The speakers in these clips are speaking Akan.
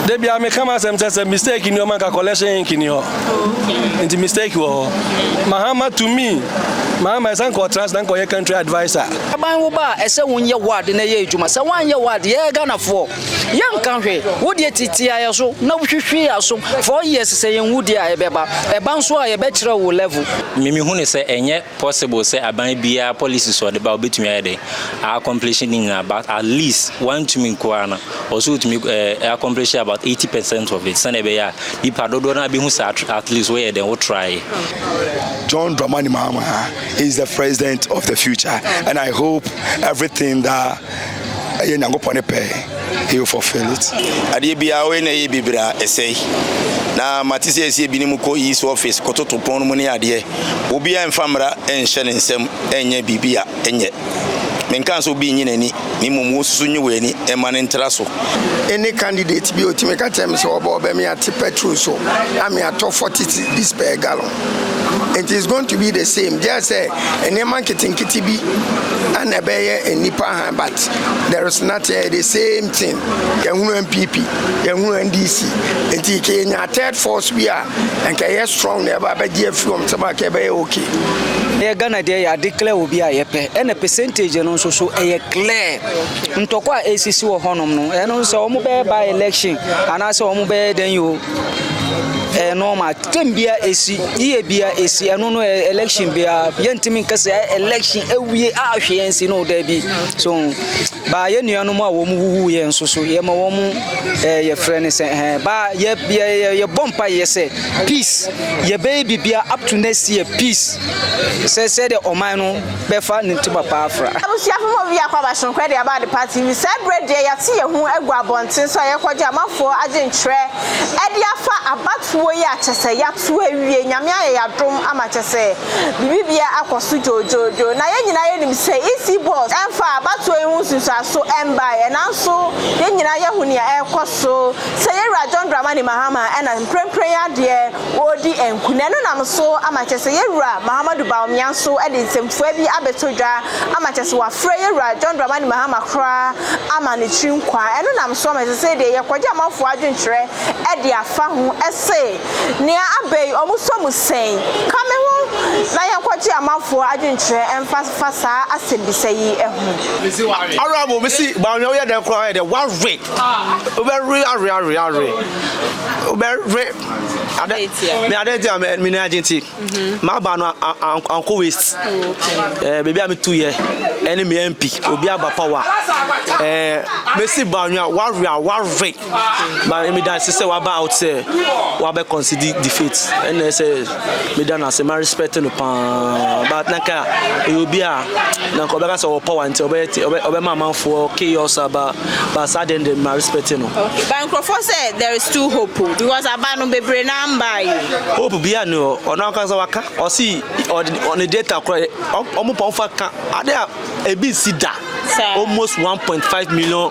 Da biara meka m'asɛm kyɛ sɛ mistake nni hɔ ma nka collection ink nni hɔ nti mistake wɔ hɔ mahama to me mahama ɛsɛ nka ɔtena ase na nka ɔyɛ country adviser aban wo ba a ɛsɛ wonyɛ ward na ɛyɛ adwuma sɛ woanyɛ ward yɛyɛ ghanafoɔ yɛnka hwɛ wodeɛ titiaeɛ so na wohwehwe asom four years sɛ yɛnwu deɛ a ɛbɛba ɛba nso a yɛbɛkyerɛ wo level mimi hu ne sɛ ɛnyɛ Possible sɛ aban biara policies a ɔde ba obetumi ayɛ dɛ accomplish ne nyinaa but at least wantumi nko ara no ɔso otumi eh, accomplish about eighty percent of it sɛnea ɛbɛyɛ a nipa dodoɔ no abehu sɛ at least woyɛ dɛn wo try. John Dramani Mahama is the president of the future and I hope everything that Ɛyɛ Nyankopɔn ne pɛ, He will fulfill it. Adeɛ biara woyɛ na ɛyɛ bebree a, ɛsɛe. Na mate sɛ yɛsi ebinom kɔ East Office kɔtoto pon no mu ne adeɛ. Obiara mfa mmara nhyɛ ne nsam nyɛ biribi a ɛnyɛ. Menkaa sɛ obi nnye n'ani, na mmom wo nso so nyi w'ani mma no ntra so. Any candidate bi a otumi ka kyerɛ me sɛ ɔbɔ ɔbɛ me ate petrol so a me atɔ forty cedis per gallon. nti is going to be the same gyɛ sɛ nneɛma nketenkete bi ana ɛbɛyɛ nnipa ha but there is not uh, the same thing yɛhunu npp yɛhunu ndc nti kɛ yɛnya third force bi a nka ɛyɛ strong na ɛba bɛgye afiri wɔn nsɛm a kɛ ɛbɛyɛ okay ɛyɛ ghana deɛ yɛ ade clear obi a yɛpɛ ɛna percentage no nso so ɛyɛ clear ntɔkɔ a ɛsisi wɔ hɔnom no ɛno sɛ wɔn bɛyɛ by election anaasɛ wɔn bɛyɛ dɛn yi o ɛyɛ normal Game bia esi, yie bia esi, ɛno no eh, election bia yɛntumi nka sɛ eh, election awie a ahwe yɛn si no daabi so baa yɛ nuanom a wɔn wuwu yɛn nso so yɛma wɔn eh, yɛfrɛ no sɛ eh, baa yɛ yɛ yɛ yɛbɔ mpa yɛ sɛ peace yɛbɛyɛ bibia up to next year peace sɛ sɛ de ɔman no bɛfa ne ntoma pa afra. Abusuafo mu bi akɔ abasonkɔ de aba adepa TV. Saa bere deɛ yɛate yɛn ho agu abɔnten so a yɛrekɔgye amanfoɔ adwenkyerɛ de afa abatoɔ yi a kyɛ sɛ yɛato awie. Nyame ayɛ yɛn adom ama kyɛ sɛ biribiara akɔ so dwoodwoodwoo. Na yɛn nyinaa yɛnim sɛ EC Boss mfaa abatoɔ yi ho nsunsuanso mbaeɛ nanso yɛn nyinaa yɛhu nea ɛrekɔ so. Sɛ yɛn wura John Dramani Mahama na mprempren adeɛ wɔredi nkonim. Ɛno nam so ama kyerɛ sɛ yɛn wura Mahamadou Bawumia nso de nsɛmfua bi abɛto dwa ama kyerɛ sɛ wafrɛ yɛn wura John Dramani Mahama koraa ama ne tiri nkwaa. Ɛno nam so ama kyerɛ sɛ sei deɛ yɛkɔgye amanfoɔ adwenkyerɛ de afa ho se nea aba yi wɔsɔ mu sɛn. Ka me ho na yɛnkɔgye amanfoɔ adwenkyerɛ mfa fa saa asɛmmisa yi ho. Honourable, me se Bawumia woyɛ dɛn koraa ayɛ dɛ woawe, wobɛwe awe awe awe, wobɛwe. me adan ti a me nan agye nti m'aba no ankɔ waste ɛɛ beebi a me tu yɛ ɛne me mp obi aba power ɛɛ mesi ba nwa wawe a wawe ba me dan sɛ waba out sɛ wabɛ consider defeat ɛna sɛ me dan ase ma respect no paa but nanka ɛyɛ obi a nanka ɔbɛka sɛ ɔwɔ power nti ɔbɛyɛ ɔbɛ ɔbɛma amanfoɔ chaos aba Ba saa deɛ me respect no. Okay but nkurɔfoɔ sɛ there is still hope o because aba no bebree naa mbaa yi o. Hope biara ni hɔ ɔno ankasa waka ɔsi ɔde ne data kora ɔmo pa ɔmfa ka ade a ebi nsi da almost one point five million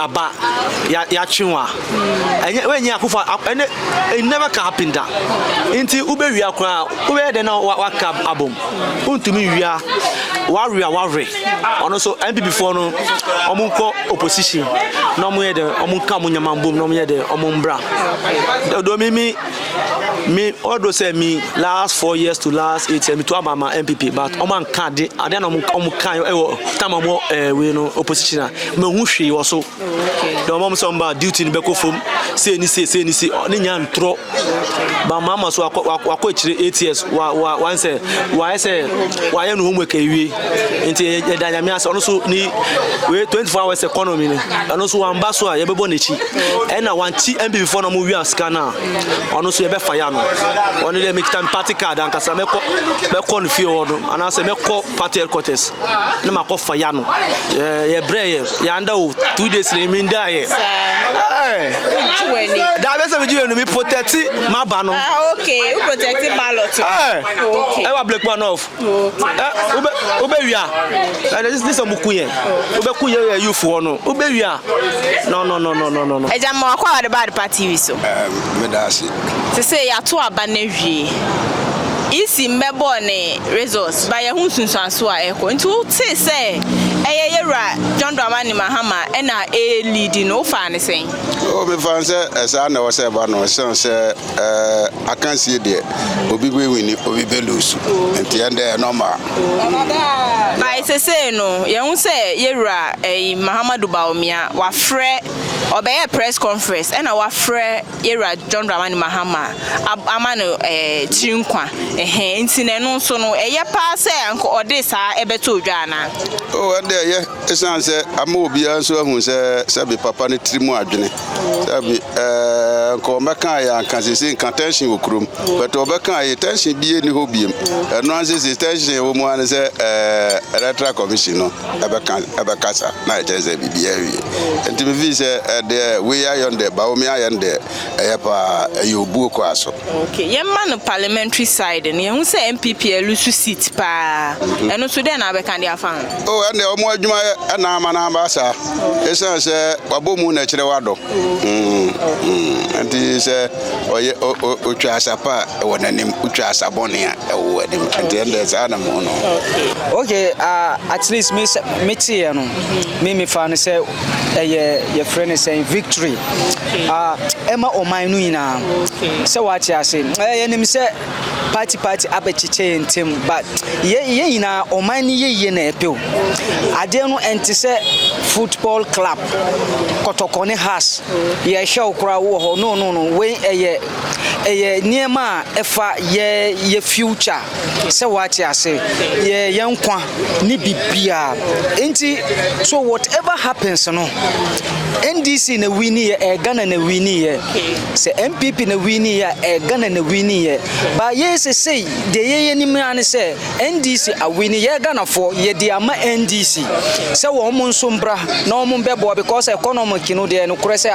aba ya yatwe wa ɛnyɛ hmm. wɛnyɛ akufo ɛnɛ it never can happen da nti wobɛwia koraa wobɛyɛ dɛ na waka abom wontumi wia wawia wawɛ Ɔno nso NPP foɔ no wɔn nkɔ opposition na wɔn yɛ dɛ wɔn nka wɔn nyama mbom na wɔn yɛ dɛ wɔn mbra. Dodo mi mi mi ɔdo sɛ mi last four years to last eight years mi to aba ma NPP but wɔn anka ade ade na wɔn wɔn kan ɛwɔ tam wɔn ɛɛ wei no opposition a mɛ hu hwee wɔ so. na ɔma mo sɛ ɔmba duty no bɛkɔ fam sei ne sei sei ne sei ne nya ntorɔ ba ɔma ama so wakɔ akyire eight years wa wa wan sɛ wayɛ sɛ wayɛ no homework awie nti yɛda nyame ase ɔno so ne wei twenty four hours economy no ɛno so wamba so a yɛbɛbɔ n'akyi ɛna wanti npp fɔ na ɔmo wia sika no a ɔno so yɛbɛfa ya no ɔno deɛ mekita me party card ankasa mɛkɔ mɛkɔ no fie hɔ no anaasɛ mɛkɔ party headquarters na makɔ fa ya no yɛbrɛ yɛ Yanda o two days ni mi da yɛ. Da bɛ sɛ mi ji yɛ nu mi protect ma ba no. Ah okay, u protect ballot. Okay. Ẹ wa black man off. Ẹ u bẹ u bẹ wia. Ẹ dẹ sísè mu kun yẹ. U bẹ kun yẹ yẹ youth wọ no. U bẹ wia. No no no no no no. Ẹ jẹ mọ akọ wa de ba de party wi so. Ẹ mi da si. Te sɛ yɛato aba no awie. EC mmɛbɔɔ ne results ba yɛho nsunsuanso a ɛkɔ nti wo tee sɛ ɛyɛ yɛwura John Dramani Mahama ɛna ɛɛ leadi no wo faa no sɛn? Oh me faa no sɛ ɛsaa na ɛwɔ sɛ ɛba no ɛsiane sɛ ɛɛ akansie deɛ obi bɛ wini obi bɛ lusu nti ɛndɛ ɛyɛ normal. By sesei no yɛho sɛ yɛwura ɛyi Mahamadu Bawumia wafrɛ ɔbɛyɛ press conference ɛna wafrɛ Yɛwura John Dramani Mahama ama no tiri nkwa ɛhɛn nti na ɛno nso no ɛyɛ paa sɛ anka ɔde saa ɛbɛto odwa anaa? O ɛnde ɛyɛ ɛsiane sɛ ama obiara nso ahu sɛ sɛbi papa no tiri mu adwene sɛbi ɛɛ nka ɔmɛka yɛ anka sese nka tension wɔ kurom bɛtɛ ɔbɛka yɛ tension bie ni hɔ biem ɛno anse se tension wɔ mu ano sɛ ɛɛ electoral commission no ɛbɛka ɛbɛkasa na ɛkyerɛ sɛ biribiara awie nti mefii sɛ ɛdeɛ eh, wei ayɛ no deɛ baomi ayɛ no deɛ ɛyɛ paa ɛyɛ obuo kɔ aso okay yɛmma no parliamentary side no yɛhu sɛ mpp alusu seat paa mhm. ɛno so dɛn na abɛka de afa ho o oh, ɛndeɛ ɔmo adwuma yɛ ɛna ama no aba saa ɛsiane sɛ wabɔ mu na ɛkyerɛ wadɔ mm, mm. nti sɛ ɔyɛ ɔtwa asa pa a ɛwɔ n'anim ɔtwa asa bɔne a ɛwɔ anim nti ɛnna saa na mo no. okay uh, at least me me teɛ no me me fa no sɛ ɛyɛ yɛfrɛ no sɛ victory ah ɛma ɔman no nyinaa sɛ wate ase ɛyɛ nim sɛ party party abɛkyekyɛ yɛn ntam but yɛ yɛn nyinaa ɔman ne yɛyie na ɛpɛ o adeɛ no ɛnte sɛ football club kɔtɔkɔ ne has yɛhwɛ wo koraa wowɔ hɔ no no no wei ɛyɛ ɛyɛ nneɛma a ɛfa yɛ yɛ future sɛ woate ase yɛ yɛn nkwa ne biribiara enti so whatever happens no NDC na wini yɛ ɛyɛ Ghana na wini yɛ sɛ NPP na wini yɛ ɛyɛ Ghana na wini yɛ ba yɛ sɛ sɛ deɛ yɛ yɛ nim ara ne sɛ NDC awini yɛ Ghanafoɔ yɛ de ama NDC sɛ wɔn mo nso mbra na wɔn mbɛboa because economic no deɛ no korɛ sɛ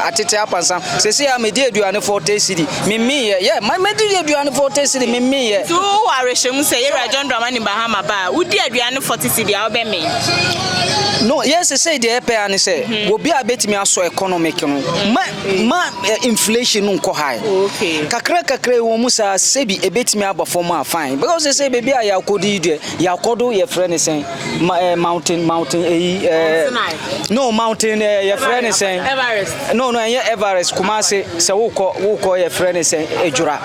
atete apansa sɛ sɛ yɛ ama di aduane fɔ tɛ sidi Memmeeɛ. Yɛ, ma mɛdi yɛ aduane fɔte sidi, memmeeɛ. Nti wo wɔ awerɛhyɛmu sɛ yɛwura John Dramani Mahama ba a, wodi aduane fɔte sidi a, wobɛmee? No, yɛ sesei deɛ yɛpɛ ara ne sɛ, mm-hmm. obi a bɛtumi asɔ economic no, mm-hmm. ma, ma eh, inflation no nkɔ high. Okay. Kakra kakra wɔ mu saa, sɛbi ɛbɛtumi aba fam a, fine. Because sesei baabi a yɛakɔdi deɛ, yɛakɔdo yɛfrɛ ne sɛn? Ma, eh, mountain, mountain, eyi, eh, no, mountain, eh, yɛ frɛ ne sɛn? Everest. No, no, ɛnyɛ Everest, Kumase, sɛ wokɔ, wokɔ yɛ frɛ ne sɛn? Edwora.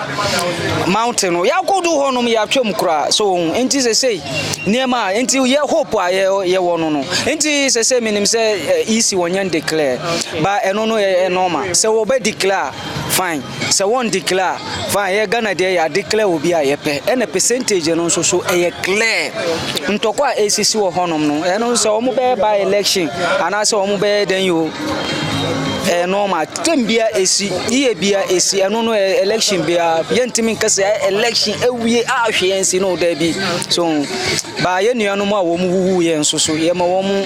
Mountain, no, yɛakɔ do hɔ nom, yɛatwa mu koraa, so wo ho, nti sɛ sei, nneɛma a, nti yɛ hope a yɛ, yɛ wɔ no no, nti sɛ sɛ menim sɛ eh, EC wɔnyɛ declare, ba ɛno no yɛ, yɛ normal, sɛ wɔbɛ declare a, fine. Sɛ wɔn declare a fine, yɛ Ghana deɛ yɛ declare obi a yɛpɛ ɛna percentage no nso so ɛyɛ clear. Ntɔkwa a ɛsisi wɔ hɔnom no ɛno nso sɛ wɔn bɛyɛ by election anaasɛ wɔn bɛyɛ dɛn yi o ɛyɛ normal. Tem bia ɛsi yie bia ɛsi ɛno no ɛyɛ election bia yɛntumi nka sɛ ɛyɛ election ɛwie a hwee ɛnsi no da bi so baa yɛ nuanom a wɔn wuwu yɛ nso so yɛma wɔn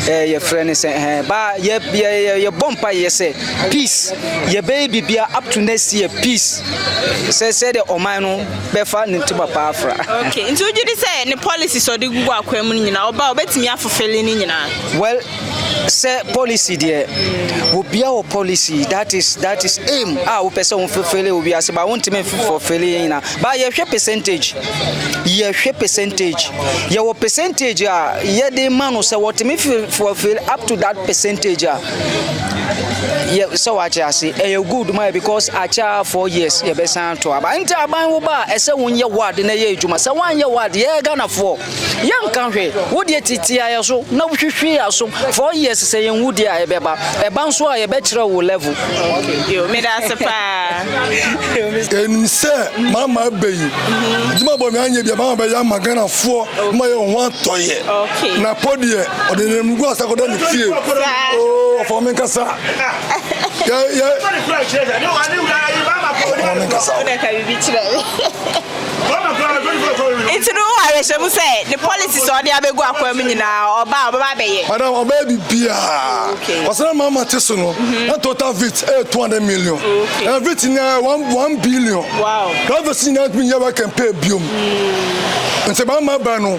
ɛɛ yɛfrɛ no sɛ ɛɛ baa yɛ yɛ yɛbɔ mpa yɛ sɛ Peace yɛbɛyɛ biribiara up to next year peace sɛ sɛdeɛ ɔman no bɛfa ne ntoma paa fra. okay nti wogye di sɛ ne policy sɛ ɔde gugu akwan mu no nyinaa ɔba ɔbɛtumi afofele ne nyinaa. well sɛ policy deɛ obia wɔ policy that is that is aim a wopɛ sɛ wofofele wɔ wiase ba wontumi fofele yɛ nyinaa ba yɛhwɛ percentage yɛhwɛ percentage yɛwɔ percentage a yɛde ma no sɛ wɔtumi fofele up to that percentage a yɛ sɛ wate ase ɛyɛ good ma yɛ because akyɛ four years yɛbɛsan ato aba nti aban wo ba a ɛsɛ wonyɛ ward na ɛyɛ adwuma sɛ woanyɛ ward yɛyɛ ghanafoɔ yɛnka hwɛ wodeɛ titia yɛ so na wohwehwe yɛ so four years sɛ yɛnwu deɛ a ɛbɛba ɛba nso a yɛbɛkyerɛ wo level meda ase paa ɛnim sɛ mama abɛyi adwuma bɔ me anyɛ bia mama bɛyɛ ama ghanafoɔ ma yɛ ho atɔyɛ na pɔ deɛ ɔde nanamgu asa kɔda ne fie ɔfa me nkasa ɔfa me nkasa Nti no, wowɔ awerɛhyɛmu sɛ ne policies a ɔde abɛgu akwaa mu nyinaa, ɔba a, ɔbɛba abɛyɛ? Madam, ɔbɛyɛ biribiara. Okay. Ɔsɛ dɛ maa mate so no, Mm-hmm. na total vit yɛ eh, two hundred million. Okay. Ɛna vit nyinaa yɛ one one billion. Wow. Drivers nyinaa ntumi nyɛ work and pay biom. Mm. Nti maa mmaa baa no,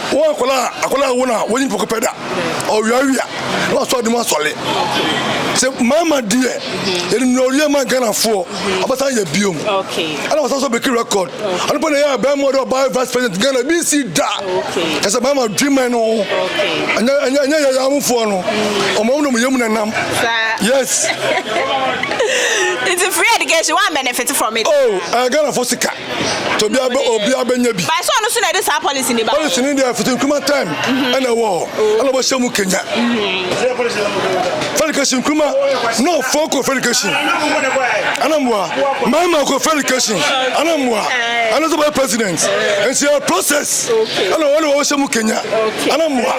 Wo akwadaa a akwadaa a wo na wonyi poko pɛ da ɔwiawia na wasɔre de mu asɔre sɛ mmarima deɛ yɛde nua ɔdeɛ ma Ghanafoɔ ɔbɛsan yɛ biom ɛna wɔsan so bɛki record ɔno pɛ na ɛyɛ a bɛrima ɔde ɔbaa yɛ vice president Ghana bi nsi da kyɛ sɛ mmarima dwemɛ no ho ɛnyɛ ɛnyɛ yɛyɛ awofoɔ no ɔmo ɔmo na ɔmo yɛ mu na nam yes. Nti free education, one benefit from it. Oh, uh, Ghana for sika. Tobia bɛ obia bɛnya bi. By sɛ ɔno so na ɛde saa policy ne ba. Policy ne deɛ fiti nkruma time mhm. ɛna ɛwɔ hɔ oh. ɛna ɔbɛhyɛ mu kenya. Mhm. Fɛlikasi nkruma na ɔfɔ kɔ fɛlikasi ɛna mmoa mmarima kɔ fɛlikasi ɛna mmoa ɛna sɛ bɛyɛ president nti ɛyɛ process ɛna ɔwɔ na ɔbɛhyɛ mu kenya ɛna mmoa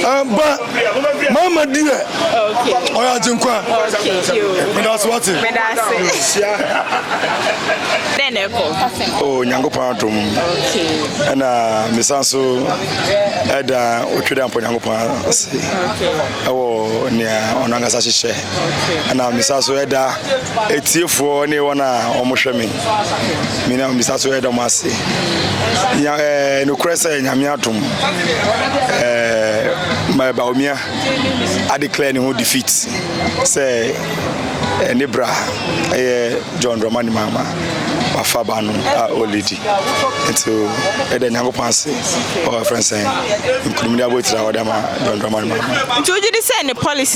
ɛba. Mama deɛ ɔyɛ agyenkwa. Medase wate. Dɛn na ɛkɔ? O Nyankopɔn adom. Ɛna mesan so ɛda otwe dɛ mpɔ Nyankopɔn ase ɛwɔ nea ɔno ankasa hyehyɛ. Ɛna mesan so ɛda atiefoɔ ne wɔn a wɔhwɛ me me na misa so ɛda mo ase nya ɛɛ nokorɛ sɛ nyame atom ɛɛ ma baomia adeclare ne ho defeat sɛ ɛne bra ɛyɛ john dramani mahama wafa ba no a ɔledi nti ɛda nyankopɔn ase ɔfrɛ sɛ nkunimde abɔtiri a wɔde ma john dramani mahama nti wogye di sɛ ne policy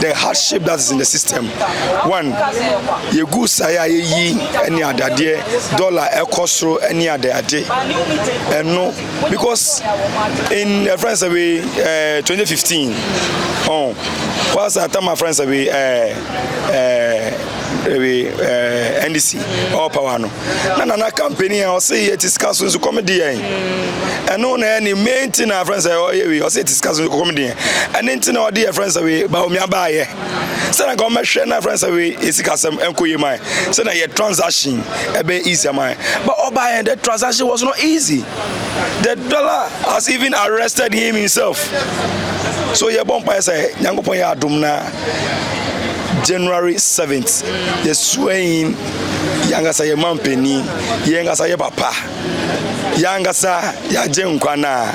the hardship that is in the system one yɛgu sae a yɛyi ne adadeɛ dollar ɛkɔ soro ne adeade ɛno because in uh, friends away uh, 2015 oh was a time my friends away uh, uh, away uh, ndc all power no na nana kampani a ɔse yɛ ti sika so nso kɔm de yɛn ɛno na ɛne main ti na afɛn sɛ ɔyɛ wei ɔse yɛ ti sika so nso kɔm de yɛn ɛne nti na ɔde yɛ fɛn sɛ wei ba omi aba ayɛ sɛ na kɔm bɛhwɛ na afɛn sɛ wei yɛ sika sɛm ɛnkɔ yɛ man sɛ na yɛ transaction ɛbɛ easy man but ɔba yɛn the transaction was not easy the dollar has even arrested him himself so yɛ bɔ mpa yɛ sɛ nyankopɔn yɛ adum na January 7th, the swaying yɛn ankasa yɛ mampanin yɛn ankasa yɛ papa yɛn ankasa yɛagye nkwa no a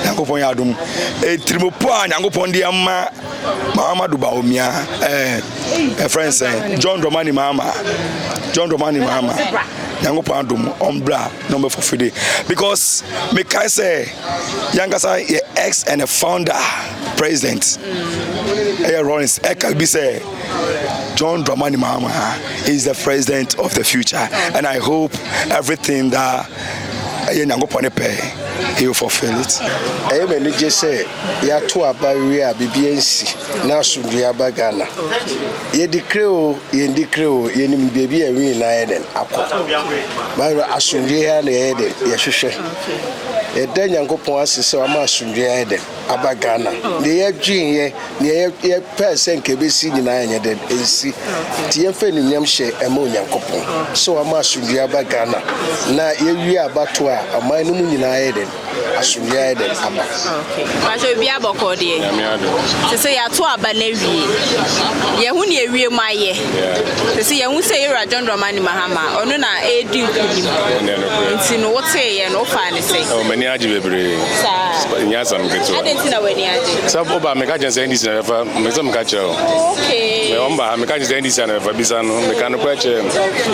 nyankopɔn yɛ adom ɛtirimopɔ a nyankopɔn de ama mahama do baomia ɛfrɛ n sɛ john dɔmani mahama john dɔmani mahama nyankopɔn adom ɔmbra na ɔmbɛfofide because mekae sɛ yɛn ankasa yɛ ex and a founder president ɛyɛ rollins ɛka bi sɛ John Dramani Mahama is the president of the future, and I hope everything that ɛyɛ nyankopɔn pɛ he will fulfill it. ɛyɛ mɛ anigye sɛ yɛato aba wie a biribi ansi na asomdwe aba ghana yɛdi kre o yɛndi kre o yɛnim baabi a ɛwi na yɛ den akɔ bayerɛ asomdwe ha na yɛyɛ den yɛhwehwɛ yɛda nyankopɔn ase sɛ wama asomdwe ayɛ den aba Ghana. Nea yɛdweneyɛ, nea yɛpɛɛ sɛ anka ebesi nyinaa anyɛ dɛn? Ansi. Enti yɛmfa anuonyam hyɛ mma Onyankopɔn sɛ wama asomdwoe aba Ghana, na yɛawie abatoɔ a, ɔman no mu nyinaa ayɛ dɛn? Asomdwoe ayɛ dɛn? Aba. Mpakyɛ obiara bɔkɔɔ deɛ? Nyame adom. Te sɛ yɛato aba no awie. Yɛhu nea awie mu ayɛ. Te sɛ yɛhu sɛ yɛwura John Dramani Mahama, ɔno na ɛredi nkunim. Nti no woteeɛ no, wofaa ne. Oh, m'ani agye bebree. Saa. Nyɛ asɛm ketewa. Adɛn nti na w'ani agye? Sɛ woba meka kyerɛ sɛ NDC na bɛfa, mepɛ sɛ meka kyerɛ wo. Oh, okay. Wɔn ba ha meka kyerɛ sɛ NDC na bɛfa bisa no, meka no kora kyerɛ no.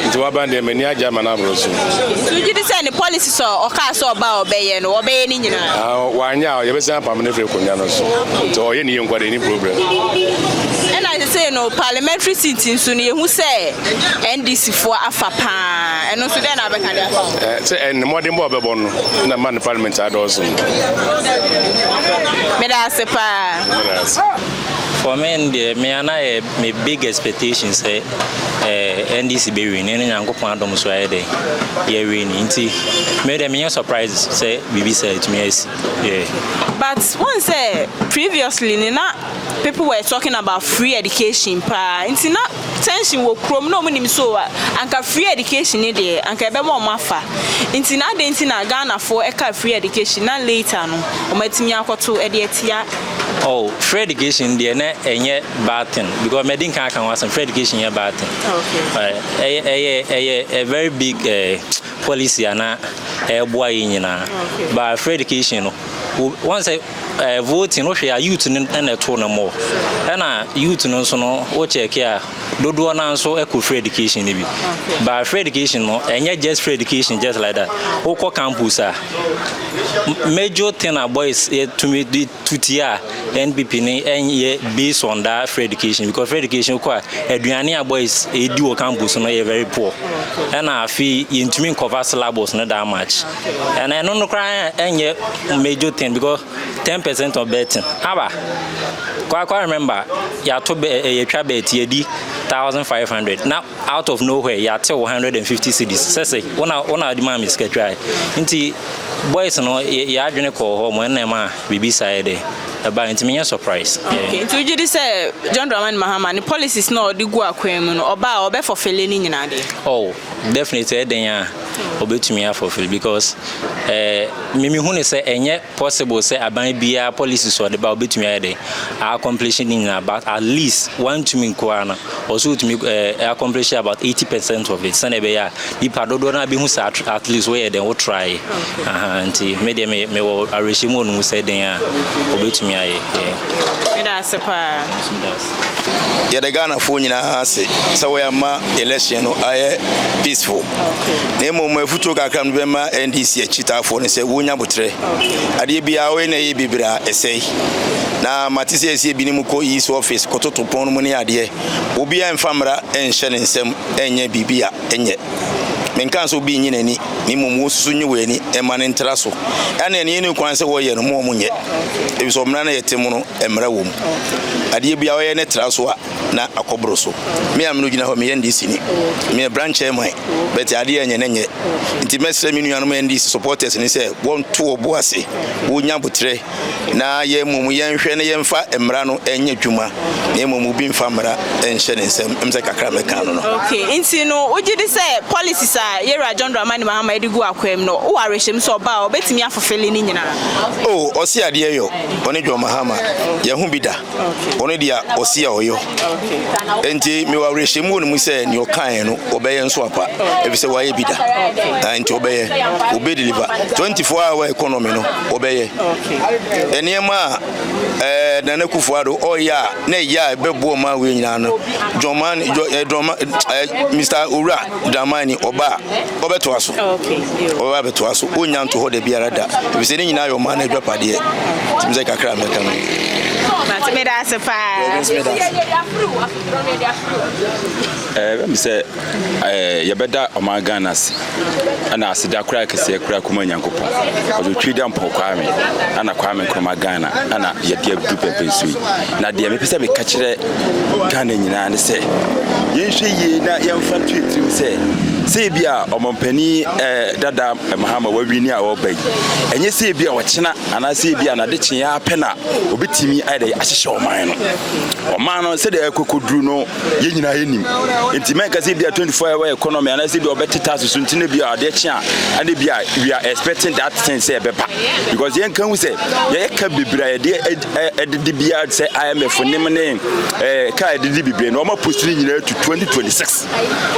Nti waba deɛ m'ani agye ama no aboro so. Nti wogye di sɛ ne policy sɛ ɔkaa sɛ ɔba a ɔbɛyɛ no, ɔbɛyɛ ne nyinaa? Ah, wanyɛ a yɛbɛsan apam no afiri akonnwa no so. Nti ɔyɛ ne yie nkwa deɛ, ɛni problem. Ɛna sesei no parliamentary seat nso no yɛhu sɛ NDC foɔ afa paa. Na ɛno nso, dɛn na abɛka de afa ho? Eh, sɛ ɛne mmɔdenbɔ a ɔbɛbɔ no na ma no parliament adɔɔso. meda ase paa. Meda ase. For me deɛ me ana yɛ me big expectation sɛ eh, NDC bɛ win ne Nyankopɔn adom so ayɛ dɛ yɛ win nti me deɛ menyɛ surprise sɛ biribi sɛ ɛtumi asi yeah. But one sɛ previously ne na people were talking about free education paa nti na tension wɔ kurom na ɔmo nim so a anka free education ne deɛ anka ɛbɛma ɔmo afa nti na adɛn nti na Ghana foɔ ɛkaa free education na later no ɔmo atumi akɔto ɛde atia Oh, free education deɛ na ɛnyɛ bad thing because mɛ di nkan aka ho asɛm free education yɛ bad thing. Okay. Ɛyɛ ɛyɛ ɛyɛ a very big ɛɛ. Eh, policy a na ɛboa yɛn nyinaa but free education no wɔn sɛ ɛɛ voting no hwɛ a youth no na ɛto no mɔ ɛna youth no nso no wɔ check a dodoɔ naa nso ɛkɔ free education no bi but free education no ɛnyɛ just free education just like that wokɔ campus a major thing a boys yɛtumi di to tie a NPP no ɛnyɛ based on that free education because free education kɔ a aduane a boys ɛdi wɔ campus no yɛ very poor ɛna afei yɛntumi nkɔva syllabus no that much ɛna ɛno no koraa ɛnyɛ major thing because ten percent of betting aba kwakwa remember yɛato bɛ eh, yɛtwa bet yɛdi thousand five hundred na Out of no where yɛatew wo hundred and fifty cedis sɛ sɛ wo na wo na wode maa me sika twa ɛ nti boys no yɛ yɛ adwene kɔɔ hɔ mo ɛna ɛma biribi saa yɛ dɛ ɛbaa nti menyɛ surprise. Okay nti wogye di sɛ John Dramani Mahama ne policies no a ɔde gu akwan mu no ɔba a ɔbɛ fulfille ne nyinaa deɛ? Oh definitely ɛyɛ den a ɔbɛtumi afulfille because ɛɛ me mehu no sɛ ɛnyɛ Possible sɛ aban biaa policies a ɔde ba ɔbɛtumi ayɛ dɛn a accomplish ne nyinaa but at least wantumi nko ara no ɔwɔ sɛ ɔtumi eh, accomplish about 80 percent of it sɛdeɛ ɛbɛyɛ a nipa dodoɔ no abɛhu sɛ at, at least woyɛ dɛn wo try aha nti me deɛ me mewɔ awerɛhyɛmu wɔ no mu sɛ dɛn a ɔbɛtumi ayɛ yeah. Meda ase paa. yɛda Ghanafoɔ nyinaa ase sɛ wɔama election no ayɛ peaceful na mmom afutuo kakra no bɛma NDC akyitaafoɔ no sɛ wɔnya botrɛ adeɛ biara wɔyɛ na ɛyɛ bebree a ɛsɛe na mate sɛ ɛsɛ ebinom kɔ east office kɔtoto pɔn no mu ne adeɛ obiara mfa mmara nhyɛ ne nsam ɛnyɛ biribi a ɛnyɛ menka sɛ obi nyi n'ani ne mmom wɔsusu nye wɔ ani ɛma ne ntra so ɛne ɛne ɛne kwan sɛ wɔyɛ no mu ɔmo nyɛ ebi sɛ ɔmena no yɛ te mu no mmara wɔ mu. Adeɛ biara ɔyɛ no tra so a na akɔ boro so. Me a me no gyina hɔ meyɛ NDC ni. Meyɛ branch chairman but adeɛ a ɛnyɛ no nyɛ. Nti mɛsrɛ me nuanom NDC supporters no sɛ wɔnto wɔn bo ase, wɔnya aboterɛ na yɛn mmom yɛnhwɛ na yɛmfa mmara no nyɛ adwuma na mmom obi mfa mmara nhyɛ ne nsam. Ɛm sɛ kakra mɛka no no. Okay, nti no wogye di sɛ policies a yɛwura John Dramani Mahama de gu akwaa mu no, wowɔ awerɛhyɛmu sɛ ɔba a ɔbɛtumi afofele ne nyinaa? Oh, ɔse adeɛ yɔ. Ɔne John Mahama, yɛho bi da. Ɔno deɛ ɔsi a ɔyɔ. Nti mewɔ awerɛhyɛmu wɔ ne mu sɛ nea ɔkaeɛ no ɔbɛyɛ nso apa. Ɛfiri sɛ wayɛ bi da. Ah, nti ɔbɛyɛ. Ɔbɛ deliver. 24 hour economy no ɔbɛyɛ. Nneɛma a eh, Nana Akufo Addo ɔyɛ a na ɛyɛ a ɛbɛboa ɔman wei nyinaa no, John Mahama, eh, John, eh, Mr. Owura Dramani, ɔba a, ɔbɛtoa so. Ɔbɛba abɛtoa so. Ɔnnya nto hɔ da biara da. Efisɛ ne nyinaa yɛ ɔman no adwapadeɛ. Nti me sɛ kakra a mɛka no ni. But meda ase paa. Ɛɛ, me nso meda ase. Ɛɛ, ɛbɛm sɛ ɛɛ yɛbɛda ɔman Ghana ase. Ɛna aseda koraa kɛseɛ koraa kuma Nyankopɔn. Ɔdze Twi dɛ Mpɔw Kwame, ɛna Kwame Nkrumah Ghana, ɛna yɛde adu bɛbɛ nso yi. Na deɛ mepɛ sɛ meka kyerɛ. Ghana nyinaa ne sɛ yɛnhwɛ yie na yɛmfa nto yɛtirim sɛ sɛ ebi a ɔmampanin eh, dada Mahama wawini a ɔreba yi ɛnyɛ sɛ ebi a ɔkyena anaasɛ ebi a n'ade kyeɛ ara pɛ na obetumi ayɛ dɛ ahyehyɛ ɔman no ɔman no sɛdeɛ ɛkɔkɔduru no yɛn nyinaa yɛnim nti mɛnka sɛ ebi a 24 hour economy anaasɛ ebi a ɔbɛte tax so nti na ebi a adeɛ kye a ɛna ebi a we are expecting that thing sɛ ɛbɛba because yɛnka hu sɛ yɛka bebree a yɛde ɛdidi bia sɛ imf nim ne ɛɛ kaa ɛdidi bebree na wɔn apusi ne nyinaa to 2026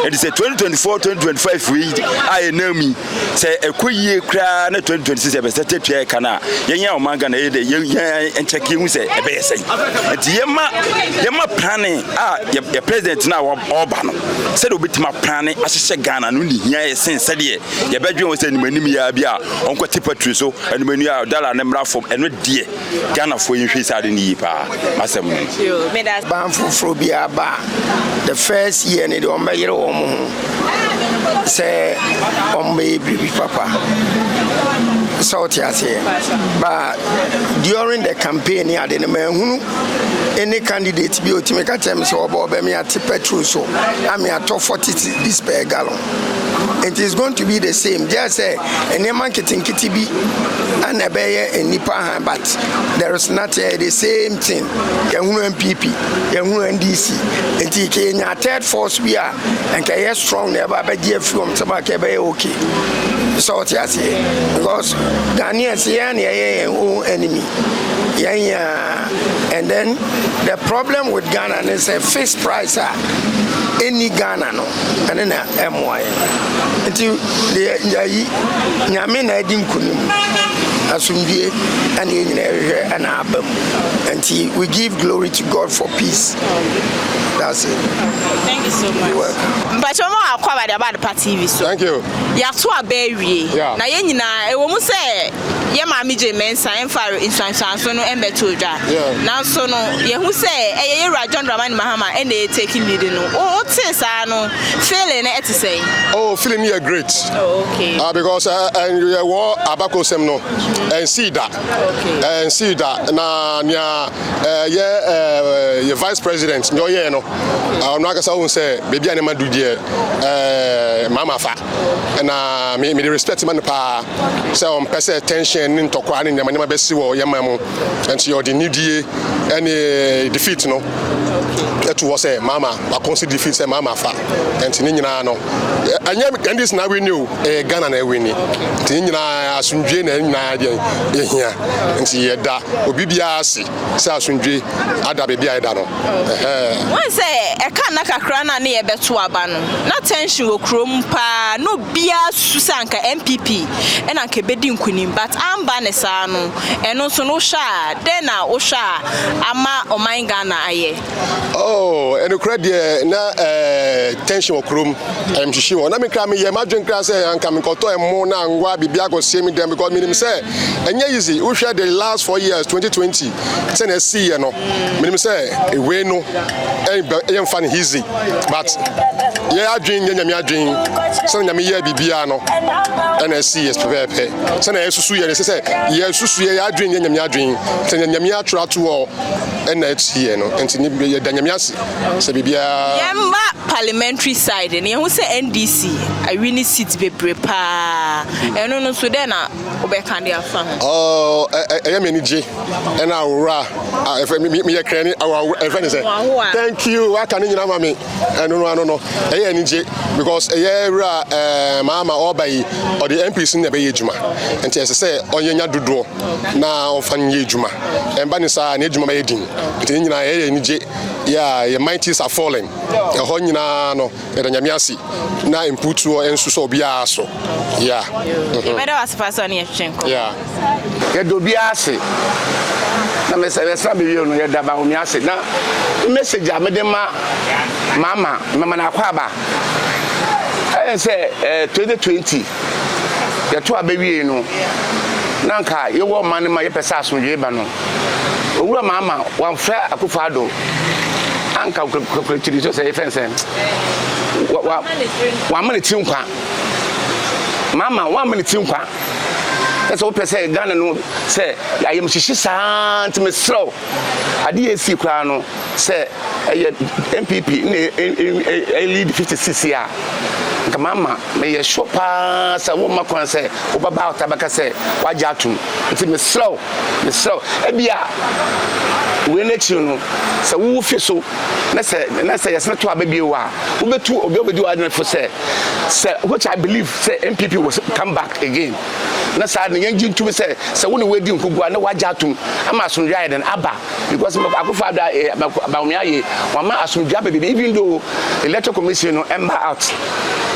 ɛdi sɛ 2024 2025 wei a yɛ nan mu sɛ ɛkɔ yie koraa na 2026 yɛ bɛsɛ tɛ tua ɛka no a yɛn yɛn ɔman ghana yɛ dɛ yɛn yɛn nkyɛke ehu sɛ ɛbɛyɛ sɛn nti yɛn ma yɛn ma plane a yɛ yɛ president no a ɔba no sɛdeɛ obetumi aplane ahyehyɛ ghana no ne hia yɛ sen sɛdeɛ yɛbɛdwen wɔ sɛ anim anim yɛ bi a ɔnkɔ tipa tiri so anim anim yɛ a dollar ne mmra fam ɛno deɛ Ghana foɔ yi nhwɛ saa ade no yie paa asɛm no. Ban foforɔ biara ba a the first year no deɛ wɔn bɛyere wɔn ho sɛ wɔn bɛyɛ biribi papa sɛ ɔte aseɛ ba during the campaign ne ade no mahunu ɛne candidate bi ɔtumi ka kyerɛ me sɛ ɔbɛ ɔbɛ me ate petrol so ame atɔ 40 cedis per gallon nti it's going to be the same gye sɛ nneɛma nketenkete bi ɛna ɛbɛyɛ nnipa ha but there is nothing eh, the same thing yɛhunu npp yɛhunu ndc nti kenya third force bi a nka ɛyɛ strong na ɛba bɛgye afiri wɔn nsɛm a ka ɛbɛyɛ okay sɛ ɔte aseɛ because ghanaian sɛ yɛn na ɛyɛ yɛn own enemy yɛn yɛn and then the problem with ghana ne sɛ fixed price a ɛnni ghana no ɛno na ɛmmoa yɛn nti deɛ yɛyi nyame na adi nkunim asomdwie ɛne yɛn nyinaa hwehwɛ ɛna aba mu nti we give glory to god for peace that's it thank you so much mpakyɛ ɔmo akɔ aba de aba adepa tv so thank you yɛato aba awie na yɛn nyinaa ɛwɔ mu sɛ yɛn Maame Jane Mensah mfaa nsuansuanso no mmɛtoo dwa. Nanso no, yɛhu sɛ ɛyɛ yɛn wura John Dramani Mahama na ɛyɛ taking lead no. Wo wotee saa no, feeling no ɛte sɛn? Oh, feeling no yɛ great. Oh, okay. Ah, because ɛyɛ wɔ abakosɛm no, ɛnsii da. Okay. Ɛnsii da. Na nea ɛyɛ yɛ vice president nea ɔyɛɛ no, ɔno ankasa ohun sɛ baabi a nneɛma du deɛ, ɛɛ mama fa. Na me me de respect ma no paa. sɛ ɔmpɛ sɛ tension ne ntɔkwa ne nneɛma nneɛma bɛsi wɔ yɛn man mu. Nti ɔde nidie ne defeat no to hɔ sɛ Mahama wakonsi defeat sɛ Mahama fa. Nti ne nyinaa no, ɛnyɛ NDC na awini o, ɛyɛ Ghana na awini. Nti ne nyinaa asomdwe na ne nyinaa deɛ yɛhia. Nti yɛda obi biara ase sɛ asomdwe ada baabi a ɛda no. Ɛhɛɛ. Wɔn sɛ ɛka nna kakra no a ne yɛbɛto aba no, na tension wɔ kurom paa, na obi. Biaa susu sɛ anka NPP na anka ɛbɛdi nkunim but amba ne saa no ɛno nso no wohwɛ a dɛn na wohwɛ a ama ɔman Ghana ayɛ? Oh ɛnokorɛ deɛ na tension wɔ kurom ayamhyehye wɔ na me kra meyɛ madwen kra sɛ anka menkɔtɔ ɛmo na anwa biribi akɔsie me dɛm because menim sɛ ɛnyɛ easy wohwɛ the last four years 2020 sɛnea ɛsiiɛ no menim sɛ ewei no ɛyɛ mfa no easy but yɛ adwene nyɛ nyame adwene sɛnea nyame yɛɛ biribiara no ɛna ɛsi yɛ pɛpɛɛpɛ sɛnea yɛsusu yɛ no ɛsɛ sɛ yɛsusu yɛ adwene nyɛ nyame adwene sɛ nyɛ nyame atwerɛ ato hɔ ɛna ɛsi yɛ no nti yɛda nyame ase sɛ biribiara yɛmma parliamentary side no yɛhu sɛ ndc awi ne seat bebree paa ɛno no so dɛ na wobɛka de afa ho? Oh, ɛyɛ me anigye ɛna awora a ɛfɛ meyɛ krɛni ɛfɛ ne sɛ thank you waka ne nyinaa ma me ɛno no ano no ɛyɛ anigye because ɛyɛ wura ɛɛ maama ɔba yi ɔde MPs na ɛbɛyɛ adwuma nti ɛsɛ sɛ ɔnyɛ nya dodoɔ na ɔfa no yɛ adwuma ɛmba ne saa na adwuma bɛyɛ din nti ne nyinaa ɛyɛ anigye yɛ a yɛ mighties are falling ɛhɔ nyinaa no Yɛda Nyame ase na mputuo nso sɔ obiara so. Yeah. Mhm. Yɛbɛda wase paa sɛ ɔne yɛtwetwe nkɔmmɔ. Yeah. Yɛda obiara ase. Na mesɛ yɛsra bewie no yɛda Bawumia ase na message a mede ma mama mama no akwaaba ɛyɛ sɛ eh, 2020 yɛto a bɛwiei no na nka yɛwɔ ma no ma yɛpɛ sɛ asomdwee ba no Owura Mahama wamfrɛ Akufo Addo anka kwakurokyiri so sɛ yɛfrɛ no sɛn. Wamma ne tiri nkwa. Mahama wamma ne tiri nkwa. Na sɛ wopɛ sɛ Ghana no sɛ ayamhyehye saa nti mesrɛ wo ade yɛ esi koraa no sɛ ɛyɛ NPP na ɛyɛ lead 56 yi a, nka mama meyɛ sure paa sɛ womma kwan sɛ wobɛba ɔtaa bɛka sɛ wagye atom. Nti mesrɛ wo, mesrɛ wo, ebia wei no akyiri no, sɛ wowo fi so na sɛ na sɛ yɛsene to aba bio a, wobɛtu obi a wobɛdi w'adwene fo sɛ, sɛ which I believe sɛ NPP will come back again. Na saa no yɛngye ntom sɛ, sɛ wo ne wɔadi nkogu a na wagye atom ama asomdwoeɛ ayɛ dɛn aba. Because Mako Akufo Addo ayɛ Mako Bawumia ayɛ wɔama asomdwe aba biribi even though electoral commission no ɛmba out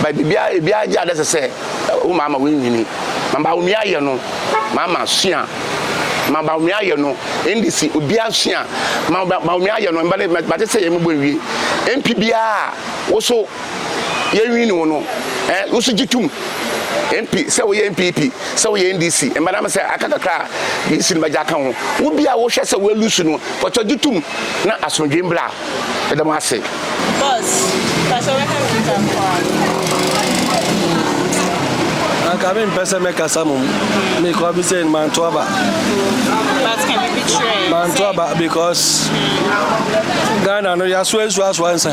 but biribiara ebiara gye adɛsɛ sɛ wo maa ma wɔnwini ma Bawumia ayɛ no maa ma sua ma Bawumia ayɛ no NDC obiara sua ma Bawumia ayɛ no mba ne mate sɛ yɛn mo bɔ nwie MP biara woso yɛnwini wo no ɛ wo nso gye tom mp sɛ woyɛ npp sɛ woyɛ ndc mbanam sɛ aka kakra a yɛsi no bɛgye aka ho wo bi a wohwɛ sɛ woalusu no kɔtɔ gye tom na asomdwe mbra ɛda mo ase Boss, pakyɛ wɛhɛ me kita nkoa. anka mempɛ sɛ mɛkasa mom mekɔ bi sɛ manto aba manto aba because ghana no yɛasoa nsuasoa nsa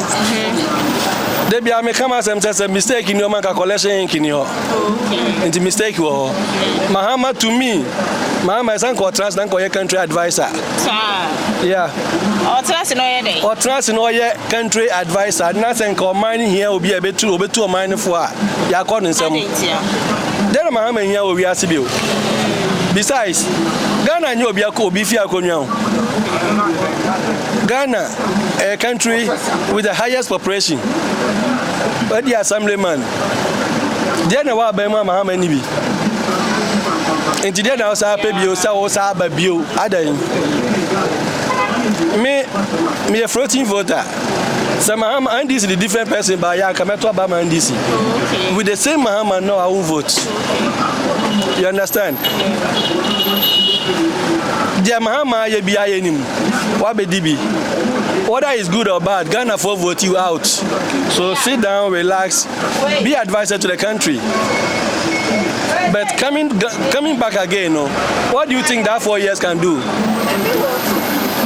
da biara meka m'asɛm sɛ sɛ mistake ni hɔ ma nka collection ink ni hɔ nti mistake wɔ hɔ mahama to me mahama ɛsɛ nka ɔtena ase na nka ɔyɛ country adviser yeah ɔtena ase na ɔyɛ dɛn ɔtena ase na ɔyɛ country adviser na sɛ nka ɔman no hia obi a ɛbɛtu ɔbɛtu ɔman no fo a yɛakɔ no nsɛm dɛn na mahama hia wɔ wiase bio besides ghana nyɛ obi akɔ obi fi akonnwa ho ghana A country with the highest population. Adi assemblyman. Deɛ na ɛwɔ aban mu a Mahama nni bi. Nti deɛ na wosaa pɛ bio sɛ wosaa aba bio adan. Me meyɛ floating voter. Sɛ Mahama NDC the different person ba yɛ anka mɛto aba ma NDC. Okay. With the same Mahama no I will vote. You understand? Deɛ Mahama ayɛ bi ayɛ nim. wabedi bi whether is good or bad Ghana for vote you out so sit down relax be advisor to the country but coming coming back again no what do you think that four years can do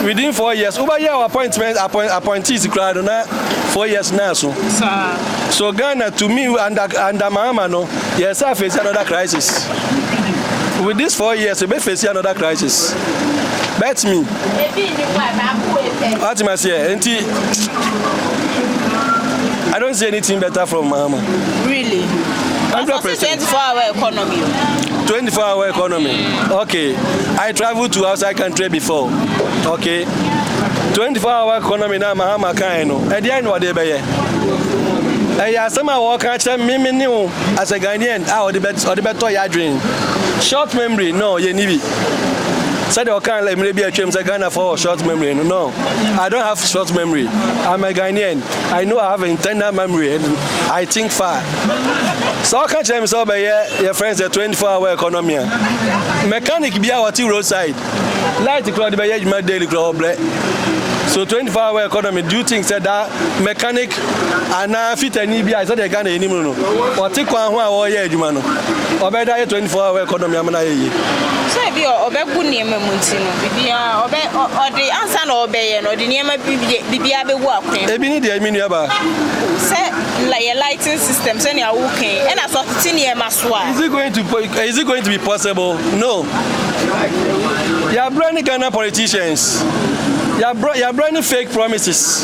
within four years wobɛyɛ our appointment appoint appointees koraa no na four years na so so Ghana to me under under Mahama no yɛ sɛ face another crisis with this four years we face another crisis. bɛtumi atumi aseɛ nti I don't see anything better from Mahama. Really? That's a 24 hour economy. 24 hour economy. Okay. I traveled to outside country before. Okay. 24 hour economy na Mahama kan no. Ɛdeɛ eh, na ɔde bɛyɛ. Ɛyɛ asɛm a wɔka kyerɛ mmemme ne wo as a Ghanaian a ɔde bɛtɔ yɛ adwene. Short memory no yɛ ni bi. Sɛdeɛ ɔkaa lɛ mmerɛ bi a atwam sɛ Ghanafoɔ wɔ short memory no, no, I don't have short memory. I'm a Ghanaian. I know I have internal memory and I think far. Sɛ ɔka kyerɛ me sɛ ɔbɛyɛ yɛ friend sɛ 24 hour economy a, mechanic bi a ɔte roadside, light kura ɔde bɛyɛ adwuma daily kura ɔbrɛ. So 24 hour economy, do you think sɛ that mechanic anaa Fitani bi a sɛdeɛ Ghana yɛnim no no, ɔte kwan ho a ɔreyɛ adwuma no, ɔbɛyɛ dɛ ayɛ 24 hour economy ama no ayɛ yie. So ebi a ɔbɛgu nneɛma mu nti no, biribiara ɔbɛ ɔde ansa na ɔrebɛyɛ no, ɔde nneɛma biribiara bɛgu akwan. Ebi ne deɛ, me nuabaa. Sɛ yɛ lighting system sɛnea woka yi, ɛna sɛ ɔtete nneɛma so a. Is it going to is it going to be possible? No. Yɛabrɛ ne Ghana politicians. Yɛabrɛ yɛabrɛ ne fake promises.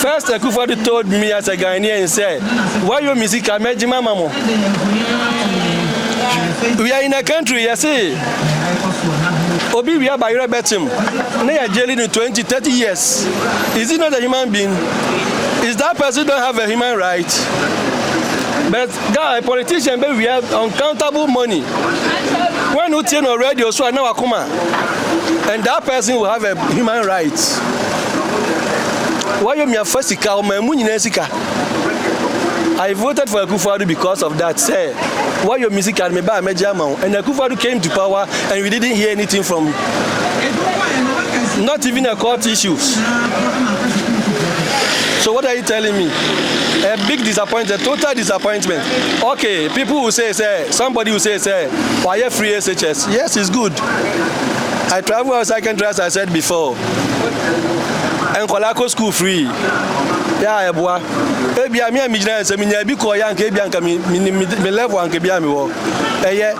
First Akufo-Addo told me as a Ghanaian sɛ, Wayɔ me sika, mɛgye mama mo. We are in a country yɛse obi wia ba yerɛ bɛkyem na yɛ jaili no 20, 30 years. Is he not a human being? Is that person don't have a human right? But Guy politician bɛ wia uncountable money when wo tie no radio so a na wakoma and that person will have a human right wayɔ mia fa sika ɔma mu nyinaa sika I voted for Akufo-Addo because of that sɛ wayɔ mi sika me ba a mɛgye ama wo and Akufo-Addo came to power and we didn't hear anything from not even a court issues so what are you telling me A big disappointment, total disappointment, ok people will say sɛ somebody will say sɛ wayɛ free SHS, yes it's good, I travel outside country as I said before, nkwadaa kɔ school free, yɛ a ɛboa, ebia me a megyina yɛ sɛ menya ebi kɔɔ yɛ anka ebia anka me, me, me level anka ebia mewɔ, ɛyɛ.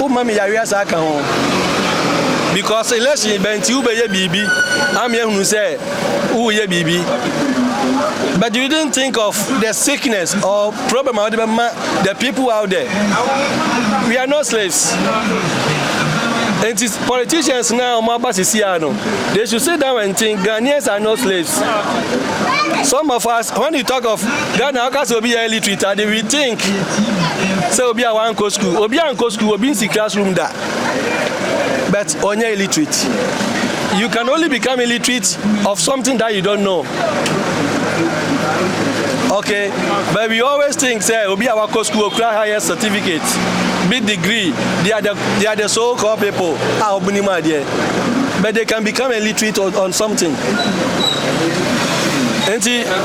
wo ma me yareɛ saa ka ho because election bɛn nti wobɛyɛ biribi ama yɛhunu sɛ woyɛ biribi but you didn't think of the sickness or problem a wode bɛma the people out there we are not slaves nti politicians na wɔn aba sisi a no they should sit down and think ghanaians are not slaves some of us when you talk of Dɛn na ɔka sɛ obi yɛ illiterate ade? We think sɛ obi a wankɔ sukuu, obi a nkɔ sukuu, obi nsi classroom da, but ɔnyɛ illiterate. You can only become illiterate of something that you don't know. Okay, but we always think sɛ obi a wakɔ sukuu okura higher certificate, big degree, they are the, they are the so-called people a ɔmo nim adeɛ, but they can become illiterate on something. Nti.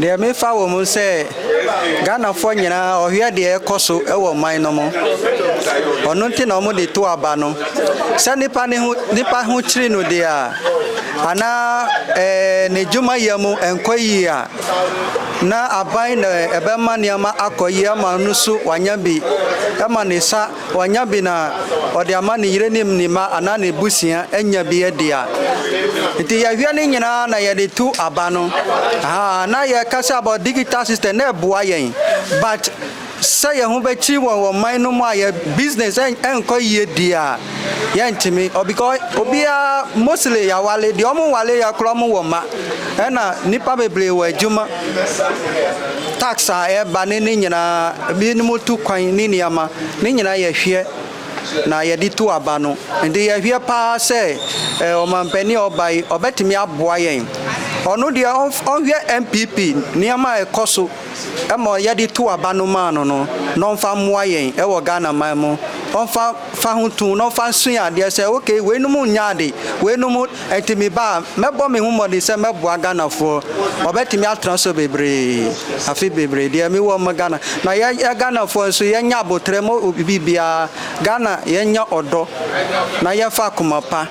Deɛ mefa wɔ mu sɛ Ghanafoɔ nyinaa ɔhwɛ deɛ ɛkɔ so wɔ ɔman no mu. Ɔno nti na wɔde to aba no. Sɛ nipa ne ho nipa ho kyiri no deɛ a, anaa ɛɛ ne dwuma yɛ mu ɛnkɔ yie a, na aban na ɛbɛma nneɛma akɔ yie ama no so wanya bi ma ne nsa Wanya bi na ɔde ama ne yere ne ne mma anaa n'abusua anya bi adi a, nti yɛhwɛ ne nyinaa na yɛde tu aba no. Ahaa, na yɛka sɛ about digital system na ɛboa yɛn but sɛ yɛn ho bɛkyiri wɔ wɔ man no mu a yɛ business ɛnkɔ yie di a, yɛntumi ɔ because obiara mostly yɛawale, deɛ wɔn nwale yɛ koraa wɔn wɔ mma ɛna nnipa bebree wɔ adwuma. Tax a ɛba ne ne nyinaa, ebinom tu kwan ne nneɛma, ne nyinaa yɛhwɛ na yɛde tu aba no. Nti yɛhwɛ paa sɛ ɔmampanin a ɔba yi ɔbɛtumi aboa yɛn. Ɔno deɛ ɔnhwɛ NPP nneɛma a ɛkɔ so ma yɛde tu aba no maa no no, na ɔmfa mmoa yɛn wɔ Ghana man mu. Ɔmfa fa ho too na ɔmfa nsua adeɛ sɛ okay weinom nnyɛ ade, weinom ɛnti me ba a mɛbɔ me ho mmɔden sɛ mɛboa Ghanafoɔ wɔbɛtumi atena so bebree afe bebree deɛ me wɔ ma Ghana na yɛ yɛ Ghanafoɔ nso yɛnyɛ aboterɛ ma obi biara Ghana yɛnyɛ ɔdɔ na yɛmfa akoma pa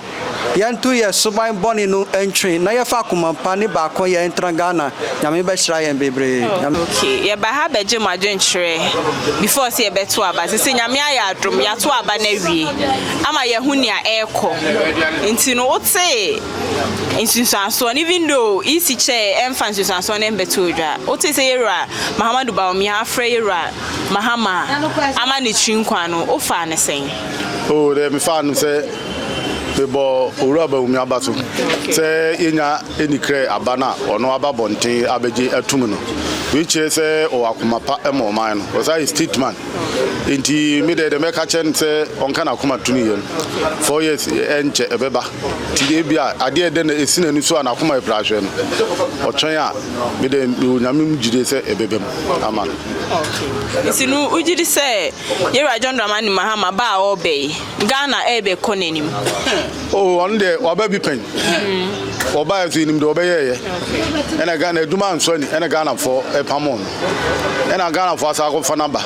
Yɛnto yɛn suban bɔne no ntwe na yɛfa akoma pa ne baakɔyɛ ntra Ghana Nyame bɛhyira yɛn bebree. Ok yɛba ha bɛgye mo adwenkyerɛ before sɛ yɛbɛto aba sese Nyame ayɛ adom yɛato aba no awie ama yɛahu nea ɛrekɔ nti no wotee nsunsuansoɔ no even though EC kyɛɛ ɛmfa nsunsuansoɔ no mbɛtoo dwa wotee sɛ Yɛwura Mahamadu Bawumia afrɛ Yɛwura Mahama ama ne tiri nkwa no wofaa no sɛn? Oh dɛ mefaa no sɛ. Mebɔ Owura Bawumia abaso sɛ yenya anikrɛ aba no a ɔno aba bɔnten abɛgye atum no. Wei kyerɛ sɛ ɔwɔ akoma pa ma ɔman no. Ɔsan yɛ stateman. Enti me deɛ deɛ mɛka kyerɛ no sɛ ɔnka n'akoma to ne yam. Four years ɛnkyɛ ɛbɛba. Nti ebi a adeɛ ɛdɛ na esi n'ani so a n'akoma yɛ prahwɛ no, ɔtwɛn a me deɛ mewɔ Nyame mu gyidie sɛ ɛbɛba mu ama no. Nti no wogye di sɛ Yɛwura John Dramani Mahama ba a ɔreba yi, Ghana ɛbɛ kɔ n'anim. Oh ɔno deɛ waba bi pɛn. Wɔbaeɛ nso yɛnim deɛ wɔbɛyɛɛyɛ. Ɛna Ghana adwuma ansɔ ani ɛna Ghanafoɔ ɛpamoo no. Ɛna Ghanafoɔ asan akɔfa no aba.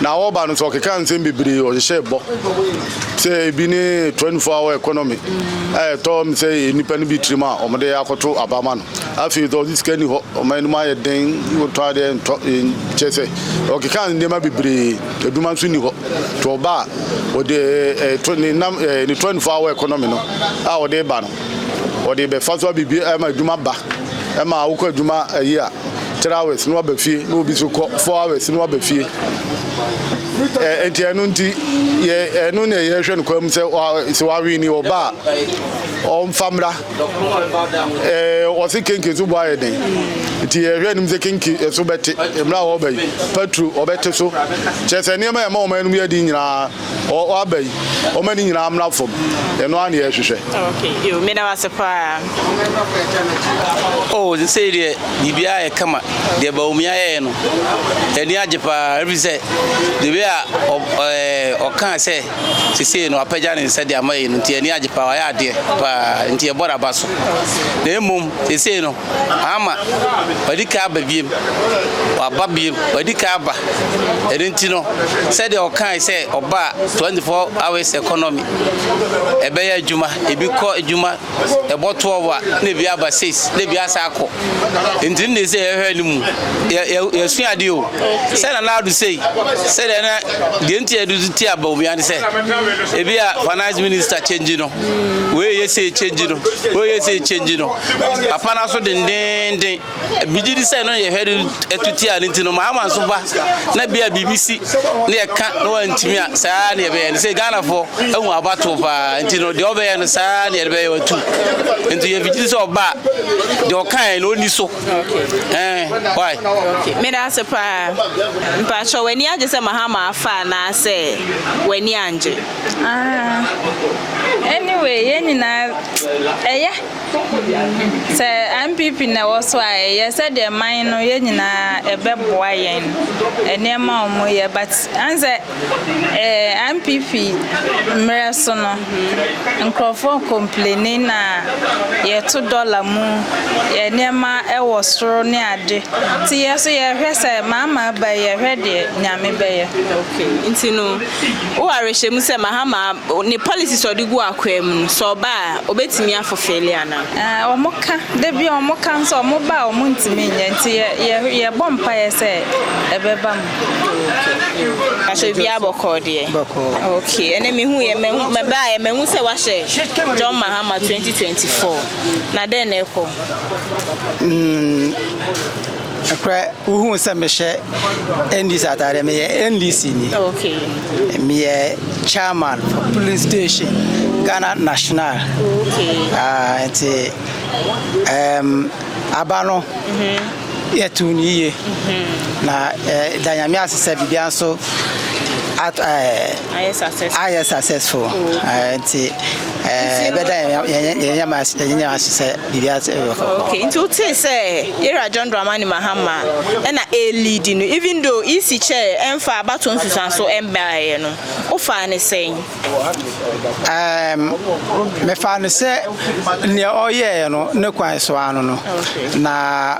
Na ɔreba no nso ɔkekaa nsɛm bebree ɔhyehyɛɛ bɔ. Sɛ ebi ne 24 hour economy a ɛtɔ me sɛ nnipa no bi tirim a wɔde akɔto aba ma no. Afei nso ɔse sika nni hɔ, ɔman no mu ayɛ den, wotɔ adeɛ ntɔ, kyerɛ sɛ ɔkekaa nneɛma bebree. Adwuma nso nni hɔ. To ɔba a ɔde to ne nam ne twenty four hour economy no a ɔde ba no ɔde bɛfa so abibi ɛma adwuma ba ɛma awokɔ adwuma ayi a three hours no aba fie na obi so kɔ four hours no aba fie nti ɛno nti yɛ ɛno na yɛhwɛ no kwan mu sɛ sɛ wawe ni ɔba a ɔmfa mmra Wɔse kenke so bɔ ayɛ den, nti yɛhwɛ anim sɛ kenke so bɛte mmerɛ a wɔba yi, patro ɔbɛte so, kyerɛ sɛ nneɛma a ɛma wɔn anom yɛ den nyinaa wɔaba yi, wɔma ne nyinaa mmra fam, ɛno ara na yɛhwehwɛ. Ok, yo, meda wase paa. Oh, sɛsɛi deɛ biribiara yɛ kama, deɛ Bawumia yɛɛ no, ani agye paa, ɛfiri sɛ the way a ɔkaa sɛ Sesei no wapagya ne nsa de ama yɛn no nti yɛn ani agye paa, wayɛ adeɛ paa nti yɛbɔ n'aba so. Na mmom sesei no ama wadi kan aba biem, waba biem, wadi kan aba. Ɛno nti no sɛdeɛ ɔkae sɛ ɔba a 24 hours economy ɛbɛyɛ adwuma, ebi kɔ adwuma, ɛbɔ twelve a na ebi aba six na ebi asa akɔ nti ne sɛ yɛhwɛ no mu yɛsua ade o sɛ na na ado sei sɛdeɛ na deɛ nti yɛde so ti aba obi ane sɛ ebi a finance minister change no wei yɛ sɛ change no wei yɛ sɛ change no apana so dendenden Migye di sɛ ɛno yɛ hwɛde atuti a ne nti no maama nso ba na bia biribi si ne ɛka na wantumi a saa ne ɛbɛyɛ no sɛ Ghanafoɔ ahu abato paa nti no deɛ ɔbɛyɛ no saa ne ɛbɛyɛ watu nti yɛ migye di sɛ ɔba deɛ ɔkae na ɔni so ɛɛ why. meda ase paa mpakyɛ w'ani agye sɛ mahama afa anaasɛ w'ani angye. Ah, anyway yɛn nyinaa ɛyɛ. Sɛ NPP na ɛwɔ so a ɛyɛ sɛdeɛ man no yɛn nyinaa ɛbɛboa yɛn nneɛma a wɔyɛ but an sɛ ɛɛ NPP mmerɛ so no nkurɔfoɔ complaining na yɛto dɔla mu yɛ nneɛma ɛwɔ soro ne ade nti yɛ so yɛhwɛ sɛ Mahama ba yi yɛhwɛ deɛ Nyame bɛyɛ. Okay nti no wo awerɛhyɛmu sɛ Mahama ne policies a ɔde gu akwaa mu no sɛ ɔba a. Obetumi afo feeli anaa? Ɛɛ, wɔka. Da bi a wɔka nso a, wɔba a wɔntumi nyɛ. Nti yɛ, yɛ, yɛbɔ mpaeɛ sɛ ɛbɛba mu. Okay. Pastor obiara bɔkɔɔ deɛ. Bɔkɔɔ. Okay. Ɛnɛ mehu yɛ, mahu, mɛbaeɛ, mahu sɛ wahyɛ John Mahama 2024. Na dɛn na ɛkɔ? Mm. Ɛkorɛ wohuu sɛ mehyɛ NDC ataadeɛ meyɛ NDC ni okay. meyɛ chairman for polling station Ghana national okay. uh, nti um, aba no mm-hmm. yɛtoo no yie mm-hmm. na uh, da nyame ase sɛ biribia nso ayɛ successful nti Eh, better yɛnyɛ ma yɛnyɛ ma sɛ biribi ase ɛbɛkɔ. okay nti o te sɛ era john dramani mahama ɛna elidi no even though ec kyɛ ɛnfa abato nsusuanso ɛmbaeɛ no o fa ne sɛn. ɛɛm mefa no sɛ nea ɔyɛɛ no ne kwan so ano no na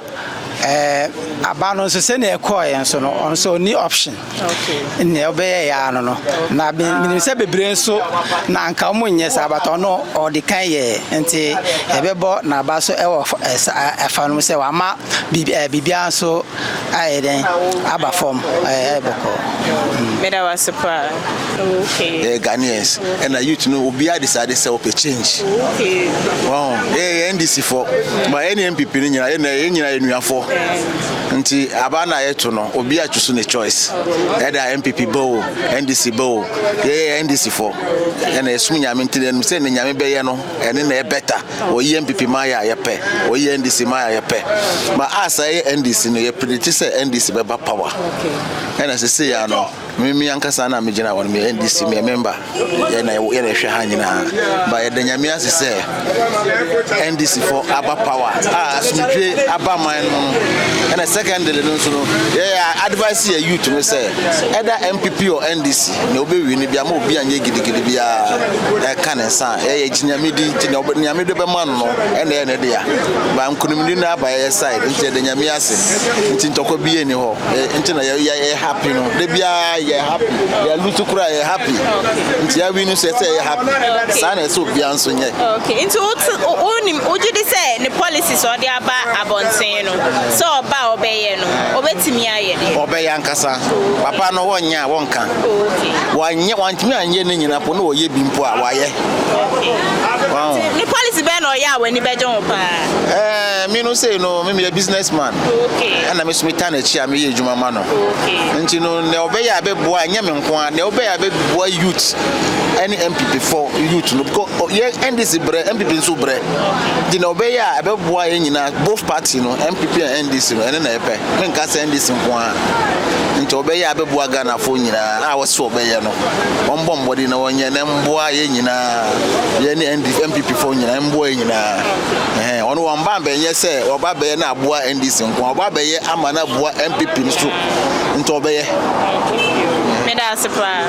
ɛɛ aba no nso sɛnea ɛkɔɔɛ nso no ɔno nso ɔni option. nea ɔbɛyɛe ara no no na menim sɛ bebree nso na anka wɔn nyɛ saa bata ɔno ɔde kan yɛ nti ɛbɛbɔ n'aba so ɛwɔ ɛfa no sɛ wama biribiara nso ayɛ dɛn aba fam ɛyɛ bɔkɔ. meda wase paa okay Ghanaians ɛna youth no obiara de saa de sɛ ɔpɛ change wɔn ɛyɛ NDC fo ba ɛne NPP no nyinaa ɛna ɛyɛ nyinaa yɛ nuafo Nti aba na yɛto no obi a chusu ne choice ɛda NPP ba o NDC ba o yɛyɛ NDC fɔ ɛna yɛsom nyame nti yɛnim sɛ ne nyame bɛyɛ no ɛne na ɛbɛta wɔyi NPP ma yɛ a yɛpɛ wɔyi NDC ma yɛ a yɛpɛ ma asa yɛ NDC no yɛpredikti sɛ NDC bɛba power ɛna sese yɛ ano Me me ankasa na me gyina hɔ no me NDC me member yɛ na yɛ na ɛhwɛ ha nyinaa ba yɛda nyame ase sɛ NDC fo aba power a asomdwe aba man no no ɛna secondary no nso no yɛyɛ advice yɛ youth no sɛ ɛda MPP or NDC na wobɛwi no bia ma obi anyɛ gidigidi biara ɛka ne nsa a ɛyɛ gyinyame di nti na nyame de bɛma no no ɛna ɛyɛ ne dea ba nkonimdi no aba yɛyɛ side nti yɛda nyame ase nti ntɔkwa bi yɛ ni hɔ nti na yɛ yɛ happy no de biara yɛ happy yɛ lusu kura yɛ happy nti awi no sɛ sɛ yɛ happy saa na ɛsɛ obiara nso nyɛ. okay nti o ti o o nim o gye di sɛ ne policy sɛ ɔde aba abɔnten no sɛ ɔba a ɔbɛyɛ no ɔbɛtumi ayɛ deɛ. ɔbɛyɛ ankasa papa no wɔnyɛ a wɔnka wɔanyɛ wɔntumi anyɛ ne nyina po na ɔyɛ bi mpo a wɔayɛ. ne policy bɛn na ɔyɛ a w'ani bɛgye ho paa. ɛɛ mi no sei no mi mi yɛ business man. ɛna me so metaa n'akyi a meyɛ adwuma ma no nti no nea ɔbɛyɛ a bɛboa ɛnyɛ me nko a nea ɔbɛyɛ a bɛboa youth ɛne mpp fɔ youth no because yɛ ndc brɛ mpp nso brɛ nti nea ɔbɛyɛ a ɛbɛboa yɛn nyinaa both party no mpp and ndc no ɛne na ɛpɛ menka sɛ ndc nko a nti ɔbɛyɛ a bɛboa ghanafoɔ nyinaa a wɔsɛ ɔbɛyɛ no wɔmbɔ mmɔden na wɔnyɛ na mboa yɛn nyinaa yɛne mpp fɔ nyinaa mboa yɛn nyinaa Ɔno wɔn ba bɛnyɛ sɛ wɔba bɛyɛ na aboa NDC nko wɔba bɛyɛ ama na aboa MPP no so nti ɔbɛyɛ. Meda ase paa.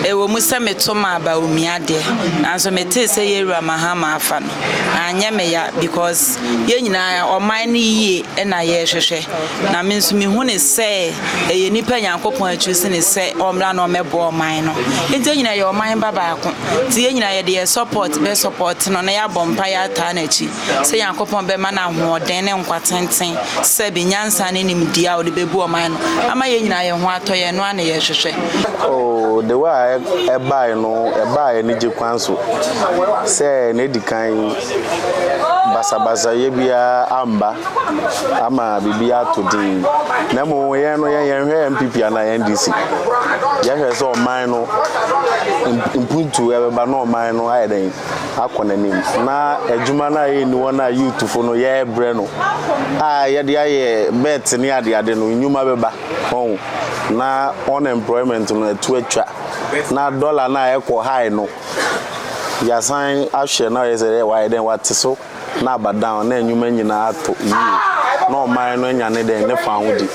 Ɛwɔ mu sɛ meto maa Bawumia deɛ, nanso metee sɛ Yawura Mahama afa no, anyɛ me ya because yɛn nyinaa ɔman no yie na yɛrehwehwɛ. Na me nso mehu no sɛ ɛyɛ nipa Nyankopɔn akyuusi no sɛ ɔmmra na ɔmmɛboa ɔman no. Enti yɛn nyinaa yɛ ɔman ba baako. Nti yɛn nyinaa yɛde yɛn support bɛ support no na yɛabɔ mpaeɛ ataa n'akyi sɛ Nyankopɔn bɛma no ahoɔden ne nkwa tenten sɛbe nyansa ne nimdeɛ a ɔde bɛbu ɔman no ama yɛn nyinaa yɛn ho atɔ yɛn ɛno ara na yɛhwehwɛ. Oh the way a ɛbae no ɛbaa anigye kwan so sɛ na ɛdi kan. basabasayɛ biara amba ama biribiara atɔ dzinn. Na mbom hɛn no yɛnnhwɛ NPP anaa NDC, yɛhwɛ dɛ ɔman no mpontu bɛba na ɔman no ayɛ dɛn akɔ n'enyim na edwuma no a yɛnye hɔn a youthfo no yɛrebrɛ no a yɛdze ayɛ bets nye adeade no ndwuma bɛba hɔn na unemployment no etu etwa na dollar no a ɔkɔ high no. Yɛasan ahwɛ na ɔyɛ sɛ dɛ ɔayɛ dɛ ɔatse so na aba down na nwoma nyina atɔ yie na ɔman no enya ne dɛn ne fahodzi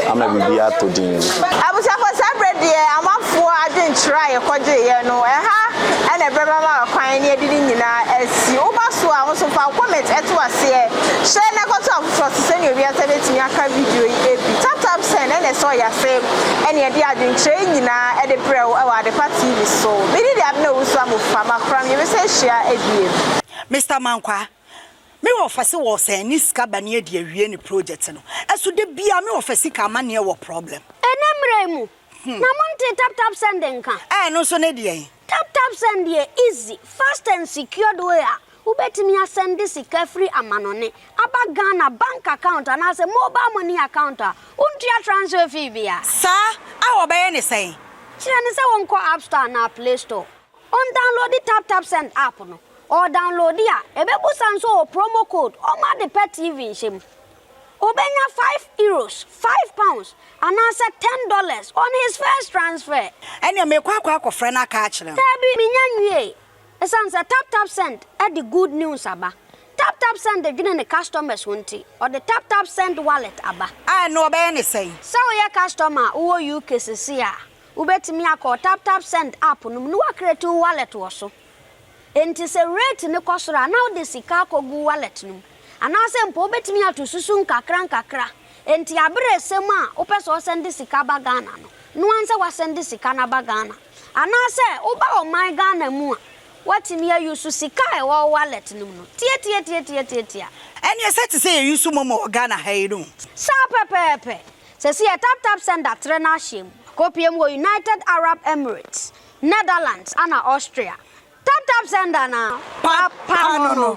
ama biribi atɔ dzinn. Abusuafo, saa berɛ deɛ amanfoɔ adwenkyerɛ a yɛkɔgyeeɛ no, ɛha na ɛbɛma ma kwan ne adidi nyinaa asi. Woba so a, wo nso fa wo comment to aseɛ. Hyɛ na kɔto afoforɔ so sɛdeɛ obiara nsa bɛtumi aka video yi bi. Tap tap send na ɛsɛ ɔyɛ aseɛ. Ɛneɛ de adwenkyerɛ yi nyinaa de brɛ wo wɔ Adepa TV so. Me din de Abena Owusu Amufa. Ma kora me. Yɛbɛsan ahyia bio. Mister Mankwaa, me wɔfa se wɔ sɛn ne sika ba ne adi awie ne project no ɛso da biaa me wɔfa sika ama neɛ wɔ problem. Ɛnɛ mmerɛ yi mu na mo ntee tap tap send nka. Ɛɛ ɛno nso ne deɛn? Tap Tap Send yɛ easy, fast and secured way a wobɛtumi asɛnde sika firi amanɔne aba Ghana bank account anaasɛ mobile money account a wontua transfer fee bia. Saa a wɔbɛyɛ ne sɛn? Kyerɛ no sɛ ɔnkɔ App Store anaa Play Store, ɔndownloadi Tap Tap Send app no, ɔredownloadi a, ɛbɛbusa nso wɔ promo code, ɔmma ade pɛ TV nhyɛ mu. Obenya five euros, five pounds, anaasɛ ten dollars on his first transfer. Ɛnneɛ meekɔ akɔ akɔfrɛ no aka akyerɛ no. Daabi, mennya nwiei. Esiane sɛ TapTapSend de good news aba, TapTapSend dwene ne customers ho nti, ɔde TapTapSend Wallet aba. A, ɛnneɛ wɔbɛyɛ no sɛn? Sɛ woyɛ customer a wowɔ UK seesei a, wobɛtumi akɔ TapTapSend app no mu na woacreate wo wallet wɔ so. Enti sɛ rate no kɔ soro a, na wode sika akɔgu wallet no mu. Anaasɛ mpo wobɛtumi ato susu nkakrankakra. Enti aberɛ resɛm a wopɛ sɛ ɔsɛnde sika ba Ghana no, noa nsɛ wasɛnde sika no aba Ghana. Anaasɛ woba ɔman Ghana mu a, woatumi a use sika a ɛwɔ wo wallet no mu no. Tiatiatiatiatiatia. Ɛneɛ sɛ te sɛ yɛ use momo wɔ Ghana ha yi no. Saa pɛpɛɛpɛ. Sɛsi yɛ taptapsend atrɛ no ahyɛm. Akɔpie mu wɔ United Arab Emirates. Netherlands ana Austria? Tap tap sender na papa no no.